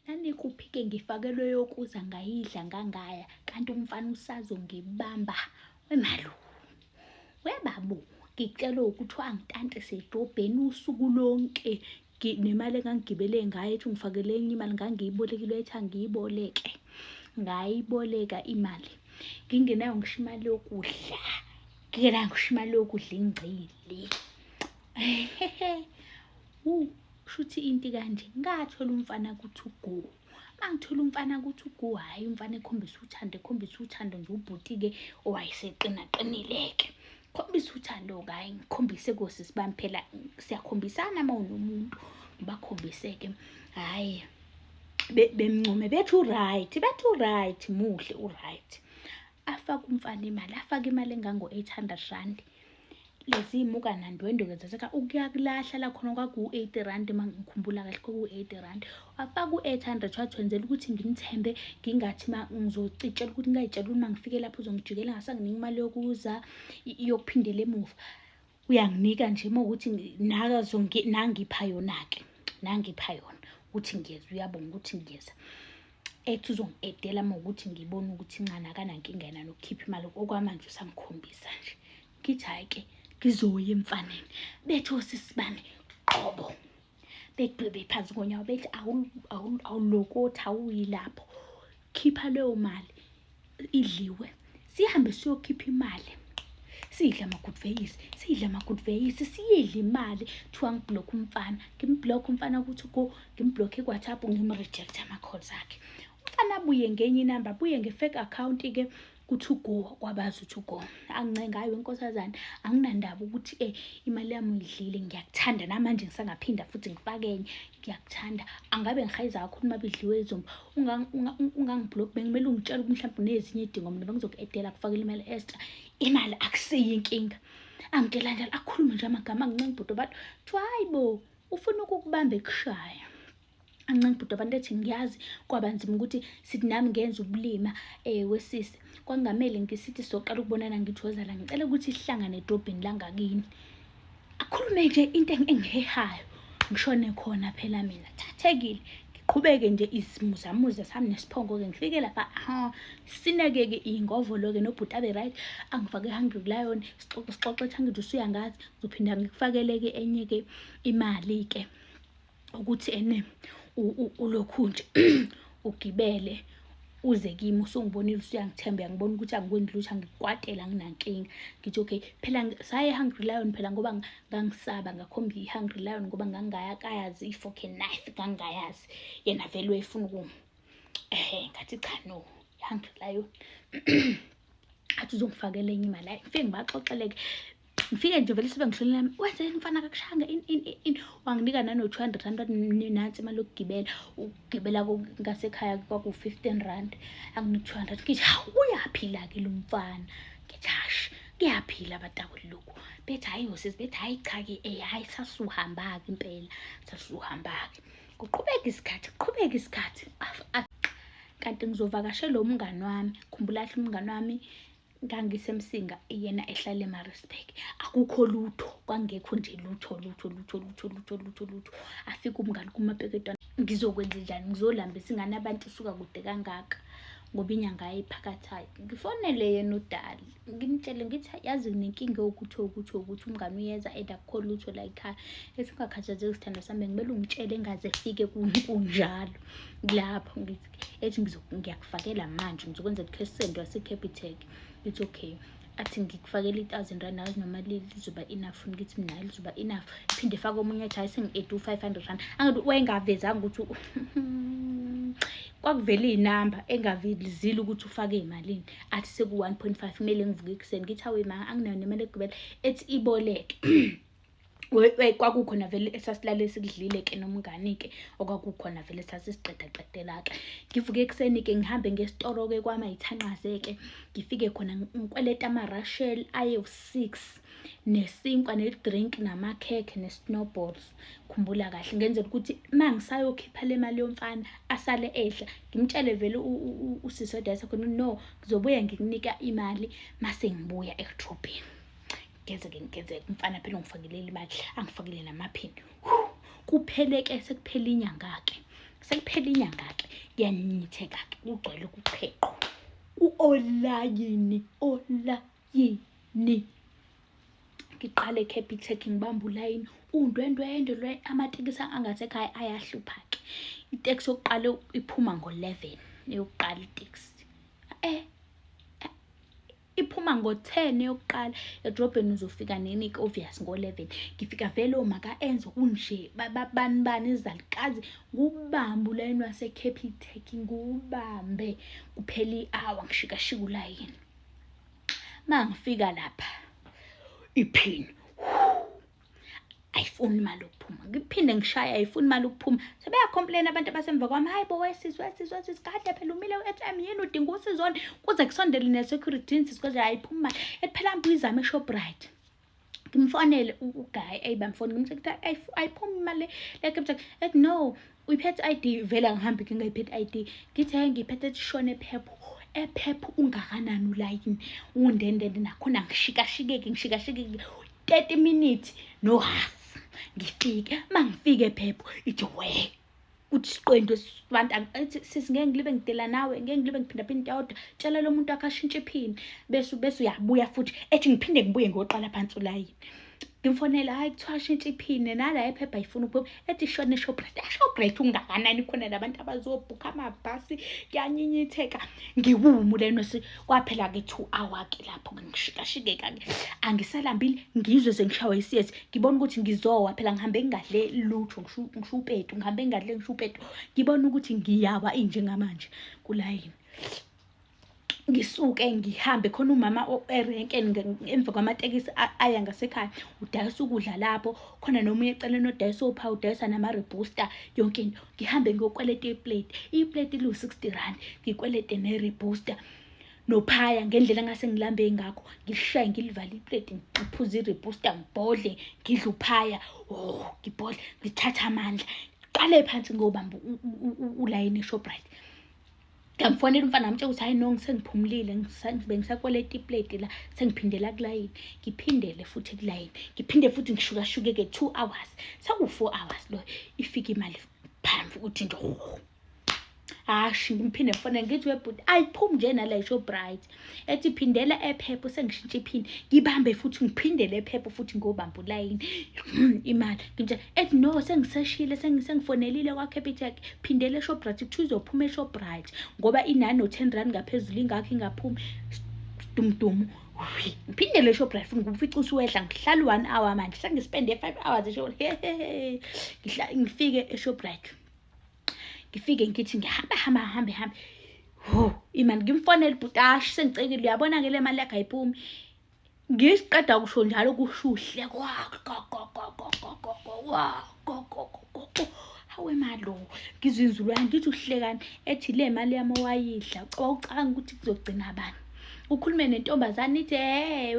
Nanikuphi-ke ngifakelwe yokuza ngayidla ngangaya kanti umfana usazongibamba wemalu. Webabu ngicela ukuthi angitantise edobheni usuku lonke nemali engangigibele ngayo ethi ungifakele enye imali ngangiyibolekile ethi angiyiboleke ngayiboleka imali ngingenayo ngisho imali yokudla ngingenayo ngisho imali yokudla ingcili kushuthi into kanje ngathola umfana kuthi ugu mangithola umfana kuthi ugu hhayi umfana ekhombisa uthando ekhombisa uthando nje ubhuti-ke owayeseqinaqinile-ke khombisa uthando-ke hhayi ngikhombise kosisi bami phela siyakhombisana uma unomuntu ngibakhombise-ke hhayi bemncome bethi u-right bethi u-right muhle u-right afake umfana imali afake imali engango-eight hundred rand lezi muka nandwendwe-ke zaseka ukuyakulahla la khona kwaku-eighty rand uma ngikhumbula kahle kwaku-eighty rand wafaka u-eight hundred wathwenzela ukuthi ngimthembe ngingathi ma ngizocitshela ukuthi ngingayitshela ukuthi uma ngifike lapho uzongijikela ngasanginika imali yokuza yokuphindela emuva uyanginika nje uma ukuthi nangipha yona-ke nangipha yona ukuthi ngiyeza uyabonga ukuthi ngiyeza ethi uzongidedela uma ukuthi ngibona ukuthi ncane akanankinga yena nokukhipha imali okwamanje usangikhombisa nje ngithi hhayi-ke ngizoya emfaneni bethi osisi bami qobo bedwebe phansi konyawo bethi awulokothi awuyilapho khipha leyo mali idliwe sihambe siyokhipha imali siyidle ama-good veis siyidle ama-good veis siyidle imali kuthiwa ngiblokhe umfana ngimblokhe umfana ukuthi go ngimblokhe i-whatsapp ngimrejecthe ama-call zakhe umfana abuye ngenye inamba abuye nge-fake account-ke kuthi ugo kwabazi ukuthi ugo angincenga hayi wenkosazane anginandaba ukuthi um imali yami uyidlile ngiyakuthanda namanje ngisangaphinde futhi ngifake enye ngiyakuthanda angabe ngihayiza kakhulu uma bidliwe izomba ungangiblock bekumele ungitshela ukuthi mhlawumbe unezinye idingo mina bengizoku-edela kufakela imali extra imali akusiyo inkinga angitshela njalo akhulume nje amagama angincenga ibhudo abantu kuthiwa hayi bo ufuna ukukubamba ekushaya ancenga ibhudo abantu ethi ngiyazi kwaba nzima ukuthi sithi nami ngenza ubulima um wesisi kwakungamele ngisithi soqala ukubonana ngithozala ngicela ukuthi sihlangane edrobheni langakini akhulume nje into engihehayo ngishone khona phela mina thathekile ngiqhubeke nje izimuzamuza sami nesiphongo-ke ngifike lapha ha sineke-ke iy'ngovolo-ke nobhuti abe right angifake hungry kulayona sixoxe sixoxe ethi angithi usuya ngazi ngizophinde ngikufakele-ke enye-ke imali-ke ukuthi ene ulokhu nje ugibele uze kimi usungibonile usuyangithemba uyangibona ukuthi angikwenzi lutho angikwatele anginankinga ngithi okay phela saye hungry lion phela ngoba ngangisaba ngakhomba i-hungry lion ngoba ngangingayakayazi i-foke knife ngangingayazi yena vele wayefuna ukuma ehe ngathi cha no i-hungry lion athi uzongifakela enye imali ayi ngifike ngibaxoxeleke ngifike nje vele sibe ngishonela yami wenzeni mfana kakushanga in in in wanginika nano 200 rand nansi imali yokugibela ukugibela ngasekhaya kwaku 15 rand anginika 200 ngithi hawu uyaphila ke lo mfana ngithi hash kuyaphila abatakuli lokhu bethi hayi yosisi bethi hayi cha ke eh hayi sasuhamba ke impela sasuhamba ke kuqhubeka isikhathi kuqhubeka isikhathi kanti ngizovakashela umngani wami khumbula umngani wami ngangisemsinga yena ehlala emarisburg akukho lutho kwangekho nje lutho lutho lutho lutho lutho lutho lutho afike umngani kumapeketwana ngizokwenza njani ngizolambisa ingane abantu isuka kude kangaka ngoba inyanga ayiphakathayo ngifonele yena udali ngimtshele ngithi yazi nginenkinga yokuthi ukuthi ukuthi umngane uyeza and akukho lutho la yikhaya ethi ungakhathazeki sithando sami bekumele ungitshele engaze efike kunjalo lapho ngithi ethi ngiyakufakela manje ngizokwenza cash send wasecapitec it's okay athi ngikufakela i-thousand rand nawe noma lizoba enough funa ukuthi mina lizoba enough phinde fake omunye athi hayi sengi-eighty u-five hundred rand angathi wayengavezanga ukuthi kwakuvele iy'namba engavezile ukuthi ufake imalini athi seku-one point five kumele ngivuke ekuseni ngithi awe ma anginayo nemali egibela ethi iboleke kwakukhona vele esasilale sikudlile-ke nomngani-ke okwakukhona vele sasisiqedaqedela-ke ngivuke ekuseni-ke ngihambe ngesitoro-ke kwama yithanqaze-ke ngifike khona ngikweleta ama-rushel ayewu-six nesinkwa ne-drink namakhekhe ne-snowballs khumbula kahle ngenzela ukuthi uma ngisayokhipha le mali yomfana asale edla ngimtshele vele usisodayisa khona no ngizobuya ngikunike imali mase ngibuya ekudrobheni ngenzeke ngenzeke umfana phela ungifakelele imali angifakele namaphini kupheleke sekuphela inyanga-ke sekuphela inyanga-ke kuyanitheka-ke kugcwele ukuqheqwa u-olayini olayini ngiqale eCapitec ngibamba ulayini undwendwende lwe amatekisi angathi ekhaya ayahlupha-ke iteksi yokuqala iphuma ngo-eleven eyokuqala iteksi eh iphuma ngo-10 yokuqala edrobheni uzofika nini-ke obvious ngo-11 ngifika vele omaka enzo kunje bani bani izalukazi ngubambe ulayini wasecapitek ngubambe kuphela i-awa ngishikashika ulayini ma ngifika lapha iphini ayifuni imali yokuphuma ngiphinde ngishaye ayifuni imali yokuphuma sebeyakhomplena abantu abasemva kwami hayi bo wesisi wesisi wesisi kade phela umile u-atm yini udinga usizona kuze kusondele ne-security insisi koze ayiphumi imali ephela mbi uyizame eshoprite ngimfonele uguy eyibamfoni ngimthe kuthiwa ayiphumi imali le-captain ethi no uyiphethe ID vele angihambi ngingayiphethe ID ngithi hayi ngiyiphethe tishone phepho ephepha ungakanani ulayini undendende nakhona ngishikashikeke ngishikashikeke 30 minutes no half ngifike uma ngifike phepho ithi we kuthi siqendu sibantu athi sisi ngeke ngilibe ngidela nawe ngeke ngilibe ngiphinda phinde tawodwa tshela lo muntu akashintshe iphini bese bese uyabuya futhi ethi ngiphinde ngibuye ngoqala phansi ulayini ngimfonela hayi kuthiwa shintsha iphini nala ephepha ifuna ukuphuma ethi shona eshoprite eshoprite ungakanani khona labantu abazobhukha amabhasi kuyanyinyitheka ngiwumu leno kwaphela ke two hour ke lapho ngishikashikeka ke angisalambile ngizwe sengishawa isiyezi ngibona ukuthi ngizowa phela ngihambe ngingadle lutho ngisho upetu ngihambe ngingadle ngisho upetu ngibona ukuthi ngiyawa injengamanje kulayini ngisuke ngihambe khona umama erenke emva kwamatekisi aya ngasekhaya udayisa ukudla lapho khona nomunye eceleni odayisa opha udayisa nama-rebooster yonke into ngihambe ngiyokweleta iplate iplate liwu-sixty rand ngikwelete ne-rebooster nophaya ngendlela engase ngilambe ngakho ngishaye ngilivale iplate ngiphuze i-rebooster ngibhodle ngidle uphaya o oh, ngibhodle ngithathe amandla qale phansi ngiyobamba ulayini eshoprite ngamfonela umfana ngamtshela ukuthi hayi no ngisengiphumulile ngibe ngisakweleta ipleti la sengiphindela kulayini ngiphindele futhi kulayini ngiphinde futhi ngishukashukeke two hours saku-four hours loyo ifike imali phambi ukuthi nje hashi ngimphinde mfana ngithi webhuti ayiphumi nje nala isho bright ethi phindela ephepha usengishintsha iphini ngibambe futhi ngiphindele ephepha futhi ngobamba ulayini hmm, imali ngintsha ethi no sengiseshile sengifonelile kwacapitec phindele eshoprite kuthiwa uzophuma eshoprite ngoba inani no-ten rand ngaphezulu ingakho ingaphumi dumdumu ngiphindele eshoprite futhi ngifica usuwehla ngihlala u-one hour manje sengispende five hours esho ngifike eshoprite ngifike ngithi ngihamba hamba hambe hambe ho imani ngimfonela ubhutashi sengicekile uyabona ke le mali yakhe ayipumi ngiqeda kusho njalo kushuhle hawe malo ngizwe inzulu yami ngithi uhlekani ethi le mali yami owayidla ucabanga ukuthi kuzogcina abantu ukhulume nentombazane ithi hey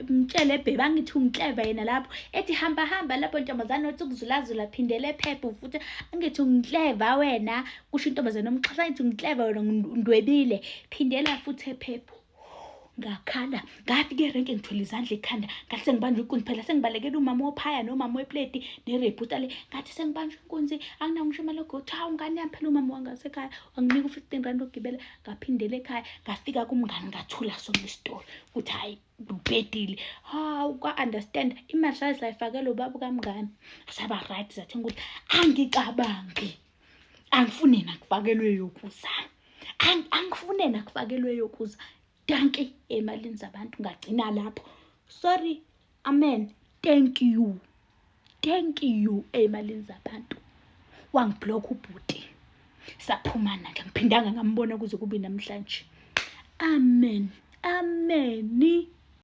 mtshele bhebe angithi ungikleva yena lapho ethi hamba hamba lapho ntombazane othi ukuzulazula phindele phepha futhi angithi ungikleva wena kusho intombazane omxhasa ngithi ungikleva wena ndwebile phindela futhi ephepha ngakhala ngafika erenke ngithwele izandla ekhanda ngathi sengibanjwa inkunzi phela sengibalekela umama ophaya nomama wepleti nereputa le ngathi sengibanjwa inkunzi anginawo ngisho imali yokuthi hawu ngane yami phela umama wangasekhaya wanginika u-fifteen rand ogibela ngaphindela ekhaya ngafika kumngani ngathula sona isitolo ukuthi hhayi ubhedile hawu kwa-understand imali saye sayifakela ubaba ukamngani saba right zathenga ukuthi angicabangi angifune nakufakelwe yokuza angifune nakufakelwe yokuza danki emalini zabantu ngagcina lapho sorry Amen. Thank you. Thank you ey'malini zabantu. Wangibhlokha ubhuti. Saphumana ke ngiphindanga ngambona kuze kube namhlanje. Amen. Ameni.